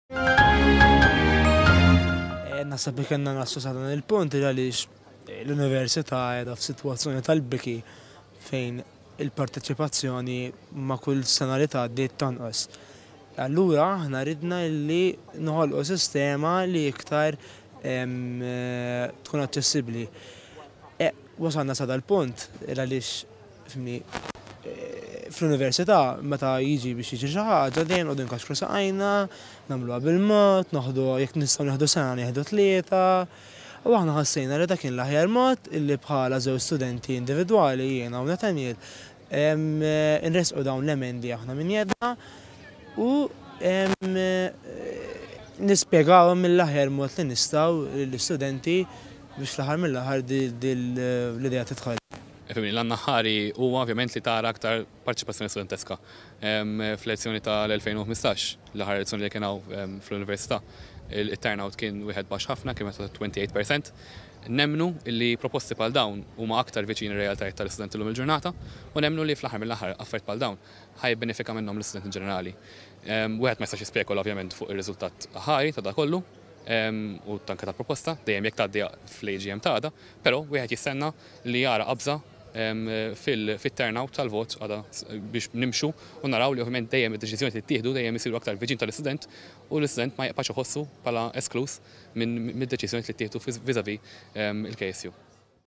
Eh, Nasab li kena nassu sa dan il-punt għaliex eh, l-Università edha f'sitwazzjoni tal-biki fejn il-parteċipazzjoni ma' kull sena li tgħaddi tanqos. Allura aħna ridna li noħolqu sistema li iktar eh, tkun aċċessibbli. E, wasalna sa dal-punt, għaliex Fimni, fl-università meta jiġi biex jiġri xi ħaġa dejjem nqogħdu nkaxkru saqajna, nagħmluha bil-mod, noħdu jekk nistgħu nieħdu sena nieħdu tlieta. U aħna ħassejna li dak kien l-aħjar mod illi bħala żewġ studenti individwali jiena u Nathaniel nressqu dawn l-emendi aħna minn jedna u nispjegawhom mill-aħjar mod li nistgħu lill-istudenti biex fl-aħħar mill-aħħar din l-idea tidħol. Fehimni, l-għan aħħari huwa ovvjament li tara aktar parteċipazzjoni studenteska. Fl-elezzjoni tal-2015, l-aħħar elezzjoni li kien hawn fl-Università, it-turnout kien wieħed baxx ħafna, kien meta 28 percent. Nemmnu li proposti bħal dawn huma aktar viċin ir-realtajiet tal-istudenti llum il-ġurnata u nemmnu li fl-aħħar mill-aħħar affarijiet bħal dawn ħa jibbenefika minnhom l-istudent in ġenerali. Wieħed ma jistax jispekula ovvjament fuq ir-riżultat aħħari ta' dan kollu u anke tal-proposta, dejjem jekk tgħaddi fl-AGM ta' għada, però wieħed jistenna, li jara qabża fit-turnout tal-vot għada biex nimxu u naraw li ovvjament dejjem id-deċiżjoni li ttieħdu dejjem isiru aktar viċin tal-istudent u l-istudent ma jibqax iħossu bħala eskluż mid-deċiżjonijiet li ttieħdu vis-à-vis il-KSU.